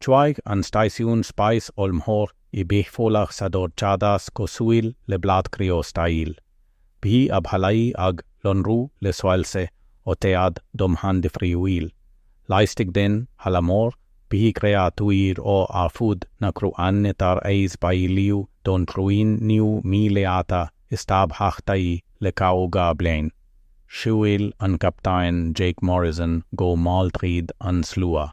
Chuaigh an stáisiún spáis ollmhór i bhfolach sa dorchadas cosúil le bláth criostail. Bhí a bhallaí ag lonrú le soilse ó chéad domhan difriúil. Laistigh den halla mór, bhí créatúir ó ar fud na cruinne tar éis bailiú don chruinniú míleata is tábhachtaí le caoga bliain. Shiúil an Captaen Jake Morrison go mall tríd an slua.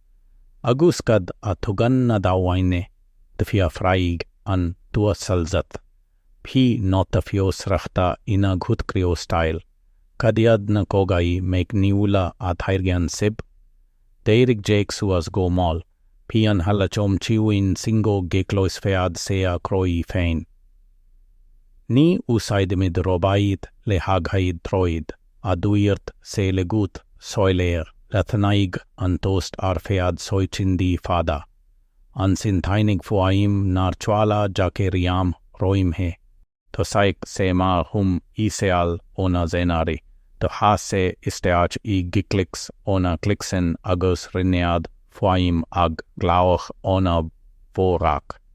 agus cad a thugann na daoine, d'fhiafraigh an tUasal Zat, bhí nóta fiosrachta ina ghuth criostail. Cad iad na cogaí meicniúla a thairgeann sibh? D'éirigh Jake suas go mall, bhí an halla chomh ciúin sin go gcloisfeadh sé a chroí féin. Ní úsáidimid róbait le haghaidh troid. a dúirt sé le guth soiléir. Leathnaigh an tost ar feadh soicindí fada. Ansin tháinig fuaim nár chuala Jake riamh roimhe. Thosaigh sé mar hum íseal ó na Zenari. D'fhás sé isteach i gclics ó na Clicsin agus rinneadh fuaim ag glaoch ó na Vorak.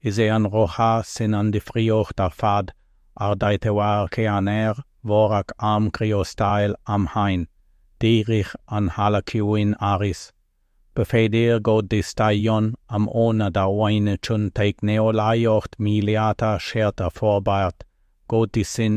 Is é an rogha sin an difríocht ar fad. Ardaitheoir ceannaire Vorak arm criostail amháin. D'éirigh an halla ciúin arís. B'fhéidir go dteastaíonn am ó na daoine chun teicneolaíocht mhíleata cheart a fhorbairt, go dtí sin,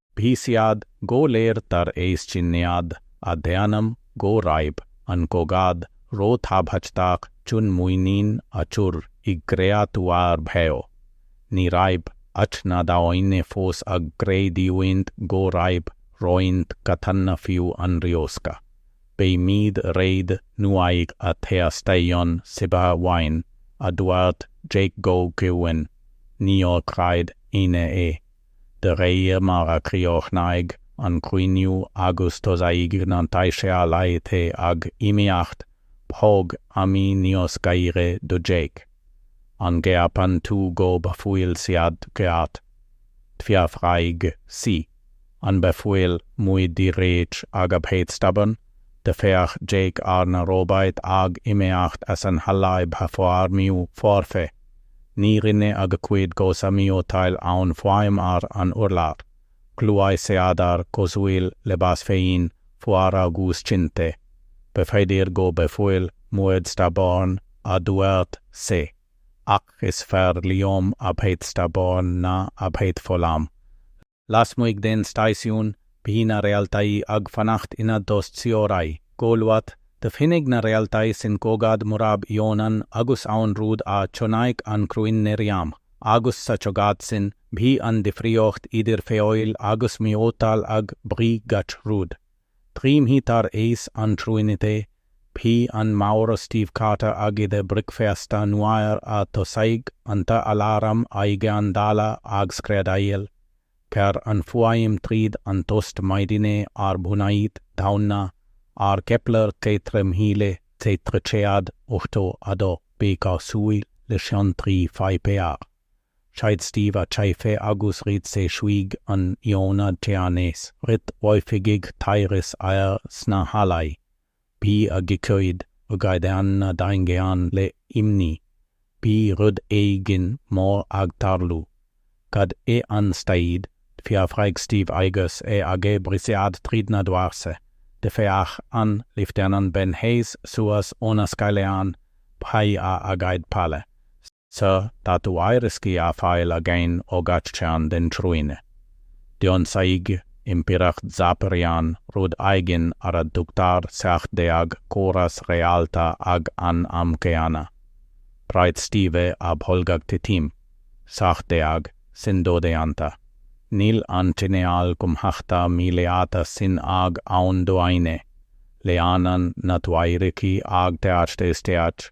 Bhí siad go léir tar éis cinneadh a dhéanamh go raibh an cogadh róthábhachtach chun muinín a chur i gcréatúir bheo. Ní raibh ach na daoine fós ag creidiúint go raibh roinnt cathanna fiú an riosca. Beimid réidh nuair a theastaíonn sibh uainn, a dúirt Jake go ciúin. Níor chreid éinne é. de réir mar a chríochnaigh an cruinniú agus thosaigh na taiscéalaithe ag imeacht, bhog Amy níos gaire do Jake. An gceapann tú go bhfuil siad ceart? D'fhiafraigh sí. An bhfuil muid díreach ag a bheith stubborn? D'fhéach Jake ar na róbait ag imeacht as an halla i bhfoirmiú foirfe. Ní rinne a gcuid cosa miotail aon fhuaim ar an urlár. Ghluaiseadar cosúil le bás féin fuar agus cinnte. B'fhéidir go bhfuil muid stubborn, a dúirt sé. Ach is fearr liom a bheith stubborn ná a bheith folamh. lasmuigh den stáisiún, bhí na réaltaí ag fanacht ina dtost síoraí. Go luath, d'fhinnigh na réaltaí sin cogadh murab ionann agus aon rud a chonaic an chruinne riamh, agus sa chogadh sin, bhí an difríocht idir feoil agus miotal ag brí gach rud. Trí mhí tar éis an chruinnithe, bhí an Maor Steve Carter ag ithe bricfeasta nuair a thosaigh an t-aláram éigeandála ag screadaíl. Ghearr an fhuaim tríd an tost maidine ar bhunáit dhaonna ar Kepler ceithre mhíle ceithre chéad ochtó a dó B, cosúil le scian trí pháipéar. Chaith Steve a chaife agus rith sé chuig an ionad ceannais. Rith oifigigh thairis air sna hallaí. Bhí a gcuid aghaidheanna daingean le imní. Bhí rud éigin mór ag tarlú. Cad é an staid? d'fhiafraigh Steve agus é ag briseadh tríd na doirse. D'fhéach an Leifteanant Ben Hayes suas óna scáileán. Bhí a aghaidh pale. S. Sir, tá tuairiscí á fáil againn ó gach cearn den chruinne. D'ionsaigh Impireacht Zephyrian rud éigin ar a dtugtar seacht déag córas réalta ag an am céanna. Bhraith Steve a bholg ag titim. Seacht déag, sin dodhéanta. Níl an cineál cumhachta míleata sin ag aon duine. Leanann na tuairiscí ag teacht isteach.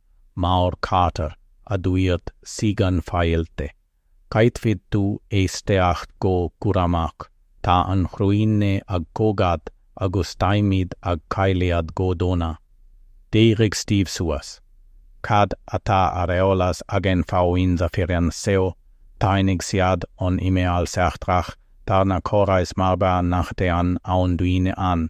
Maor Carter, a dúirt sí gan fáilte, caithfidh tú éisteacht go cúramach, tá an chruinne ag cogadh agus táimid ag cailleadh go dona. D'éirigh Steve suas. Cad atá ar eolas againn faoin Zephyrian seo? Tháinig siad ón imeall seachtrach thar na córais marbha nach dtéann aon duine ann.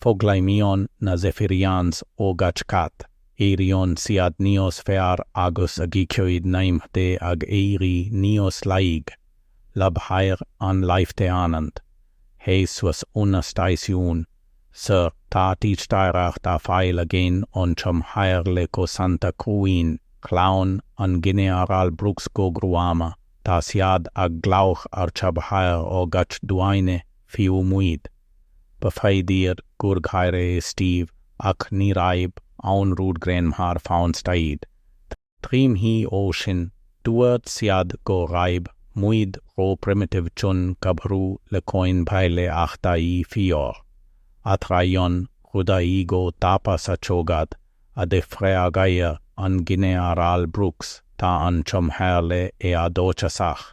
Foghlaimíonn na Zephyrians ó gach cath, éiríonn siad níos fearr agus a gcuid naimhde ag éirí níós laige. Labhair an Leifteanant Hayes suas óna stáisiún, Sir, tá teachtaireacht á fáil againn ón Chomhairle Cosanta Cruinne. Chlaon an Ginearál Brooks go gruama, tá siad ag glaoch ar chabhair ó gach duine, fiú muid. B'fhéidir gur gháire Steve ach ní raibh aon rud greannmhar faoin staid. Trí mhí ó shin, dúirt siad go raibh muid ró-primitive chun cabhrú le coinbhleachtaí fíor. Athraíonn rudaí go tapa sa chogadh, a d'fhreagair an Ginearál Brooks, tá an chomhairle éadóchasach.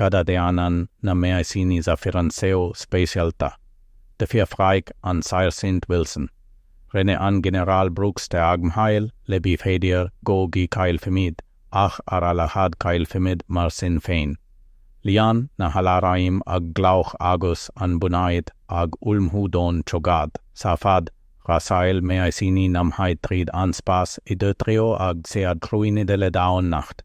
cad a dhéanann na meaisíní Zephyrian seo speisialta? d'fiafraigh an Sairsint Wilson. Rinne an Ginearál Brooks teagmháil le B'fhéidir go gcaillfimid, ach ar a laghad caillfimid mar sin féin. Lean na haláraim ag glaoch agus an bunáit ag ullmhú don chogadh. Sa fad, rásáil meaisíní namhaid tríd an spás i dtreo a gcéad chruinnithe le daonnacht.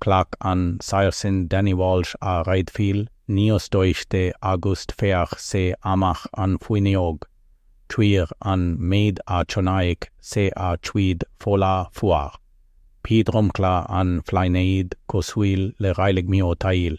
Ghlac an Sairsint Danny Walsh a raidhfil níos doichte agust d'fhéach sé amach an fhuinneog chuir an méid a chonaic sé a chuid fola fuar. Bhí dromchla an phlainéid cosúil le reilig miotail.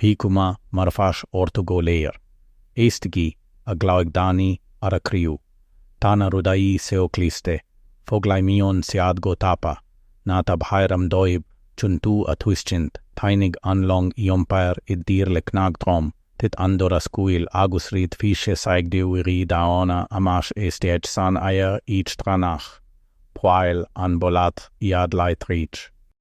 Bhí cuma marfach orthu go léir. Éistigí, a ghlaoigh Danny ar a chriú. Tá na rudaí seo cliste, foghlaimíonn siad go tapa. Ná tabhair am dóibh chun tú a thuiscint. Tháinig an long iompair i dtír le cnag trom, thit an doras cúil agus rith 20 saighdiúirí daonna amach isteach san aer eachtrannach. Bhuail an boladh iad láithreach.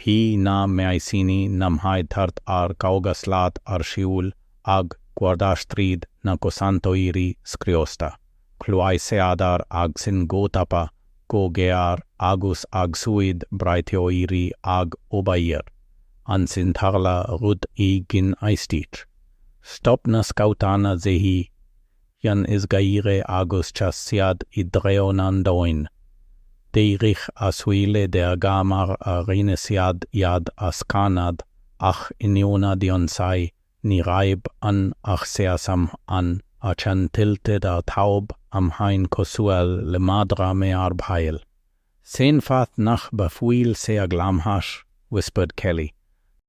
Bhí na meaisíní namhaid thart ar 50 slat ar shiúl ag cuardach tríd na cosantóirí scriosta. Ghluaiseadar ansin go tapa, go géar agus a gcuid braiteoirí ag obair. Ansin tharla rud éigin aisteach. Stop na scabhtanna de dhíth. cheann is gaire agus chas siad i dtreo na ndaoine. D'éirigh a súile dearga mar a rinne siad iad a scanadh, ach in ionad ionsaí, ní raibh ann ach seasam ann, a cheann tilted ar thaobh amháin cosúil le madra mearbhaill. Cén fáth nach bhfuil sé ag lámhach, whispered Kelly.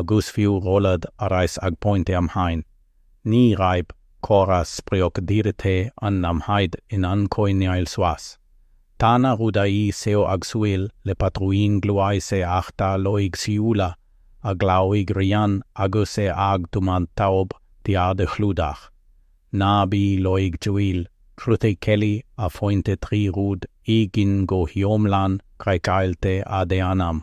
agus fiú rolladh ar ais ag pointe amháin, ní raibh córas spriocdhírithe an namhaid in ann coinneáil suas. Tá na rudaí seo ag súil le patrúin gluaiseachta loighciúla a glaoigh Ryan agus é ag tumadh taobh thiar de chlúdach. Ná bí loighciúil, chruthaigh Kelly a phointe trí rud éigin go hiomlán craiceáilte a dhéanamh,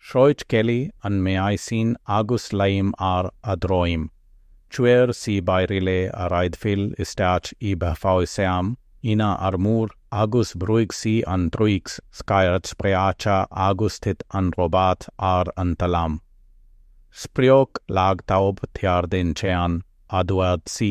Shroich Kelly an meaisín agus léim ar a dhroim. Chuir sí bairille a raidhfil isteach i bhfuil seam ina armúr agus bhrúigh sí an truicear scaird spréacha agus thit an robot ar an talamh. Sprioc lag taobh thiar den cheann, a dúirt sí.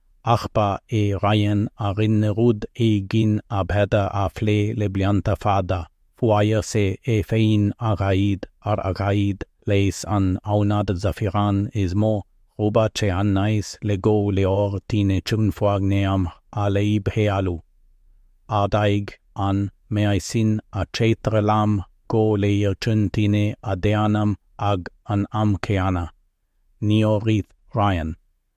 ach ba é Ryan a rinne rud éigin a bheadh á phlé le blianta fada, fuair sé é féin aghaidh ar aghaidh leis an aonad Zafiran is mó, róbat ceannais le go leor tine chun foirgneamh a leibhéalú. Ardaigh an meaisín a cheithre lámh go léir chun tine a dhéanamh ag an am céanna. Níor rith Ryan.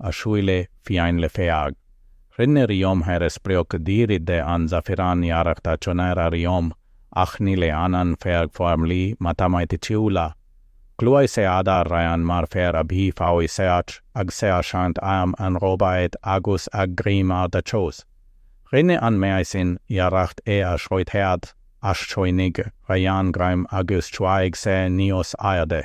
a shúile fiáin le fearg. Rinne ríomhaire spriocdhírithe an Zafiran iarracht a chonair a ríomh, ach ní leanann fearg foirmlí matamaiticiúla. Ghluais e adar Ryan mar fhear a bhí faoi search ag seachaint airm an róbait agus ag greim ar dhá chos. Rinne an meaisín iarracht é a chroitheadh, ach choinnigh Ryan greim agus chuaigh sé níos airde.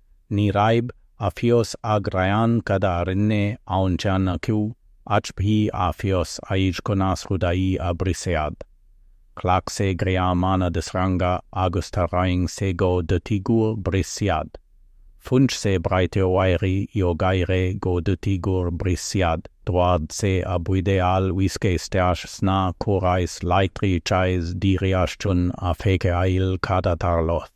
Ní raibh a fhios ag Ryan cad a rinne aon cheann acu, ach bhí a fhios aige conas rudaí a bhriseadh. Ghlac sé greamanna de shreanga agus tharraing sé go dtí gur bhris siad. Phunch sé braiteoirí íogaire go dtí gur bhris siad, dhoirt sé a bhuidéal uisce isteach sna córais leictreachais díreach chun a fheiceáil cad a tharlódh.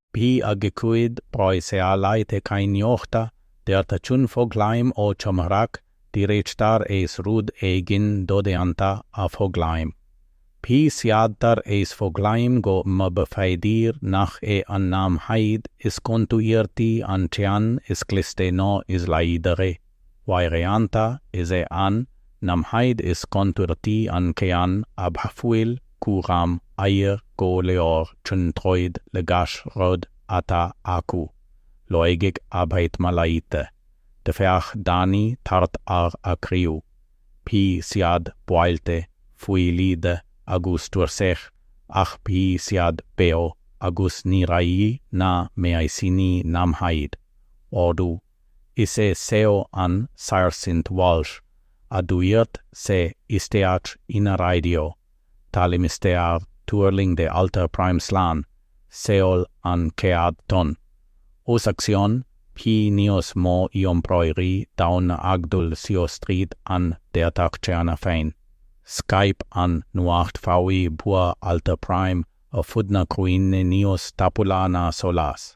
Bhí a gcuid próiseálaithe cainníochta deartha chun foghlaim ó chomhrac díreach tar éis rud éigin dodhéanta a fhoghlaim. Bhí siad tar éis foghlaim go mb'fhéidir nach é an namhaid is contúirtí an ceann is cliste nó is láidre. Uaireanta is é an namhaid is contúirtí an ceann a bhfuil cúram air go leor chun troid le gach rud atá acu, loighic a bheith mallaithe, d'fhéach Danny thart ar a chriú, bhí siad buailte, fuilithe agus tuirseach ach bhí siad beo agus ní raibh na meaisíní namhaid, ordú. Is é seo an Sáirsint Walsh, a dúirt sé isteach ina raidió, Tá limistéar tuirlingthe Alta Prime slán, seol an chéad tonn. Os a chionn, bhí níos mó iompróirí daonna ag dul síos tríd an deatach cheana féin. Scaip an nuacht faoi bhua Alta Prime ar fud na cruinne níos tapúla ná solas.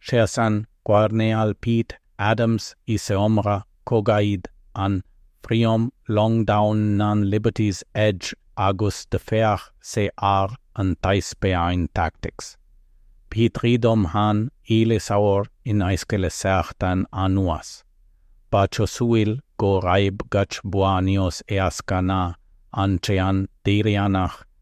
Sheas an Coirnéal Pete Adams i seomra cogaidh an phríomhlong daonna an Liberty's Edge agus d'fhéach sé ar an taispeáint tactics. Bhí trí dhomhan eile saor in aisce le seachtain anuas. Ba chosúil go raibh gach bua níos éasca ná an ceann deireanach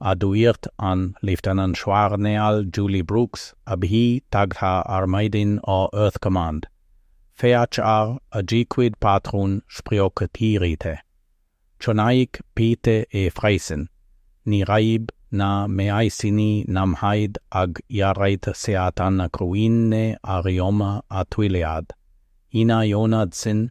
a dúirt an Leifteanantchoirnéal Julie Brooks, a bhí tagtha ar maidin ó Earth Command, féach ar a gcuid patrún spriocdhírithe. Chonaic Pete é freisin, ní raibh na meaisíní namhaid ag iarraidh seatanna cruinne a ríomh a thuilleadh, ina ionad sin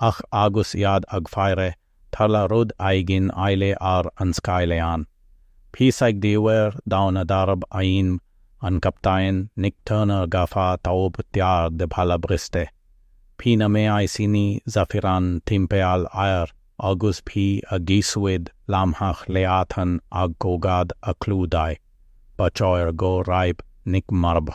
Ach agus iad ag faire, tharla rud éigin eile ar an scáileán. Bhí saighdiúir daonna darb ainm an Captaen Nick Turner gafa taobh thiar de bhalla briste. Bhí na meaisíní Zaphiron timpeall air agus bhí a gcuid lámhach leathan ag cogadh a chlúdaigh. Ba chóir go raibh Nick marbh.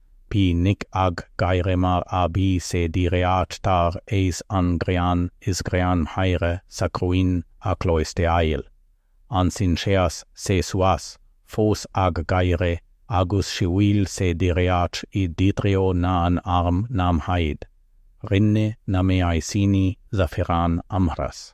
Bhí Nick ag gáire mar a bhí sé díreach tar éis an greann is greannmhaire sa chruinne a chloisteáil. Ansin sheas sé suas, fós ag gáire, agus shiúil sé díreach i dtreo na n-arm namhaid. Rinne na meaisíní Zaphiron amhras.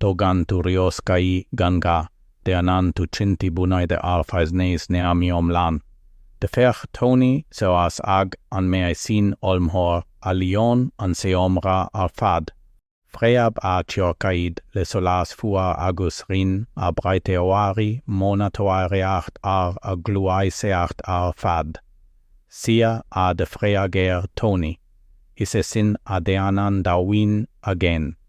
Tógann tú rioscaí gan ghá, déanann tú cinntí bunaithe ar fhaisnéis neamhiomlán. D'fhéach Tony suas ag an meaisín ollmhór a líon an seomra ar fad, phreab a chiorcaid le solas fuar agus rinne a bhraiteoirí monatóireacht ar a ghluaiseacht ar fad? Sea, a d'fhreagair Tony, is é sin a dhéanann daoine againn.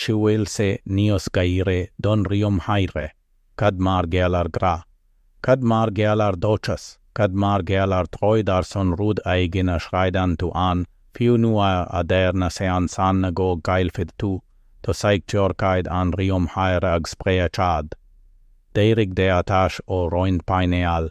Shiúil sé níos gaire don ríomhaire, cad mar gheall ar ghrá? Cad mar gheall ar dhóchas? Cad mar gheall ar throid ar son rud éigin a chreideann tú ann, fiú nuair a deir na seansanna go gcaillfid tú? Thosaigh ciorcaid an ríomhaire ag spréachadh. D'éirigh deatach ó roinnt painéal.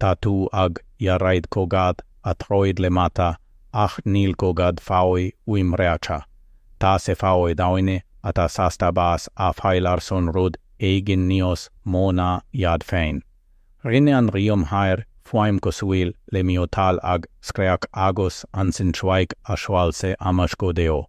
Tá tú ag iarraidh cogadh a throid le mata ach níl cogadh faoi uimhreacha. Tá sé faoi dhaoine atá sásta bás a fháil ar son rud éigin níos mó ná iad féin. Rinne an ríomhaire fuaim cosúil le miotal ag scréach agus ansin chuaigh a shoilse amach go deo.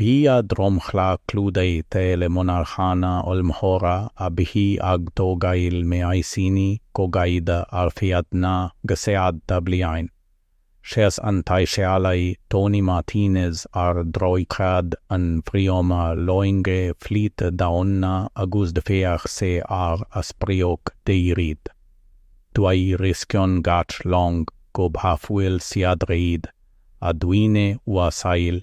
Bhí a dhromchla clúdaithe le monarchana ollmhóra a bhí ag tógáil meaisíní cogaidh ar feadh na gcéadta bliain. Sheas an tAimiréal Tony Martinez ar dhroichead an phríomhloinge flít daonna agus d'féach sé ar a sprioc deiridh. Tuairiscíonn gach long go bhfuil siad réidh, a dhuine uasail,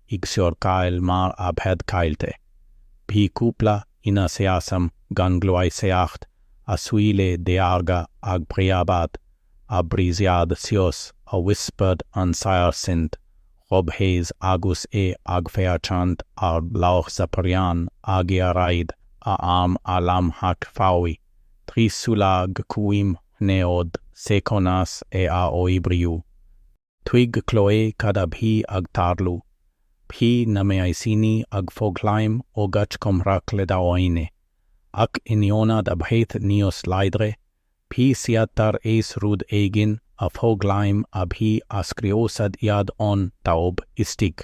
i gciorcail mar a bheadh caillte. Bhí cúpla ina seasam gan gluaiseacht, a súile dearga ag preabadh, ag briseadh síos, a whispered an sáirsint Rob Hayes agus é ag féachaint ar Laoch Zaparyan ag iarraidh a arm a lámhach faoi thrí sula gcuimhneodh sé conas é a oibriú. Thuig Chloe cad a bhí ag tarlú. Bhí na meaisíní ag foghlaim ó gach comhrac le daoine, ach in ionad a bheith níos láidre, bhí siad tar éis rud éigin a fhoghlaim a bhí ag scriosadh iad ón taobh istigh.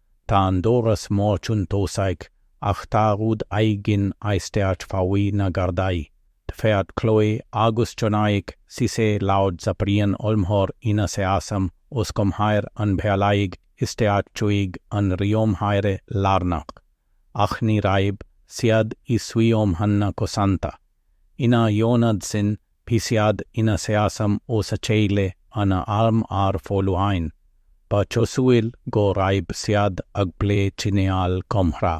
Tá an doras mór chun tosaigh ach tá rud éigin aisteach faoi na gardaí, d'fhéach Chloe agus chonaic sí sé laoch Zaparyan ollmhór ina seasam os comhair an bealaigh isteach chuig an ríomhaire lárnach, ach ní raibh siad i suíomhanna cosanta. Ina ionad sin, bhí siad ina seasam óna chéile a n-airm ar foluain, ba chosúil go raibh siad ag plé cineál comhrá.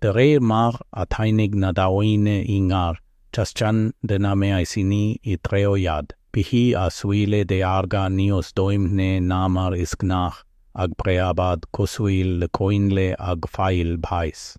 De réir mar a tháinig na daoine i ngar, chas ceann de na meaisíní ina dtreo iad, bhí a súile dearga níos doimhne ná mar is gnách, ag preabadh cosúil le coinnle ag fáil bháis.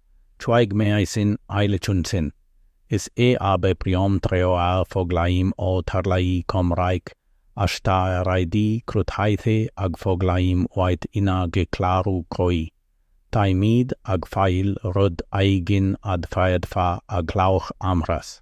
Chuaigh meaisín eile chun cinn. Is é a bpríomhthreo a fhoghlaim ó tharlú comhraic ach tá a raidí cruthaithe ag foghlaím uait inár gclárú croí. Táimid ag fáil rud éigin a d'fhéadfá a ghlaoch amhras.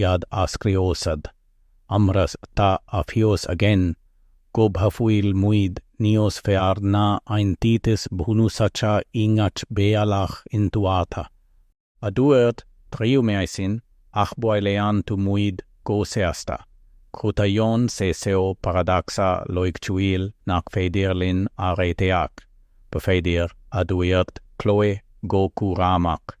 iad a scriosadh, amhras tá a fios againn go bhfuil muid níos fearr ná eintitis bhunúsacha i ngach bealach intuartha, a dúirt tríú meaisín ach buaileann tú muid go seasta. Cruthaíonn sé seo paradacsa loighciúil nach féidir linn a réiteach, b'fhéidir, a dúirt Chloe go cúramach.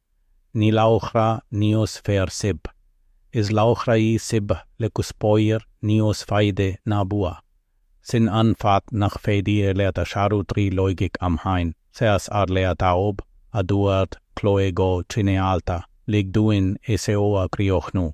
Ní laochra níos fearr sibh. Is laochra sibh le cuspóir níos faide ná bua. Sin an fáth nach féidir leat a shárú trí loighic amháin, seas ar leataobh, a dúirt Chloe go cineálta, lig dúinn seo a chríochnú.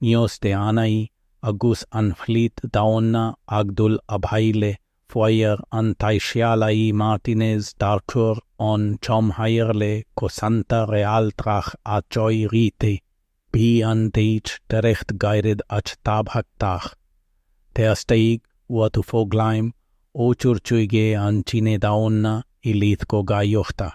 Níos déanaí, agus an flít daonna ag dul abhaile, fuair an t-aisealaí Martinez tarchur ón chomhairle cosanta réaltrach a choirithe, bhí an teachtaireacht gairid ach tábhachtach. Theastaigh uathu foghlaim ó chur chuige an chine daonna i leith cogaíochta,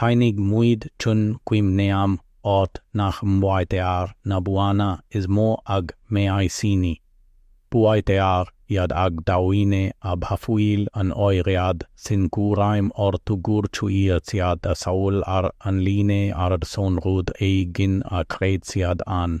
Tháinig muid chun cuimhneamh ort nach mbuaitear na buanna is mó ag meaisíní. Buaitear iad ag daoine a bhfuil an oiread sin cúraim orthu gur chuir siad a saol ar an líne ar son rud éigin a chreid siad ann.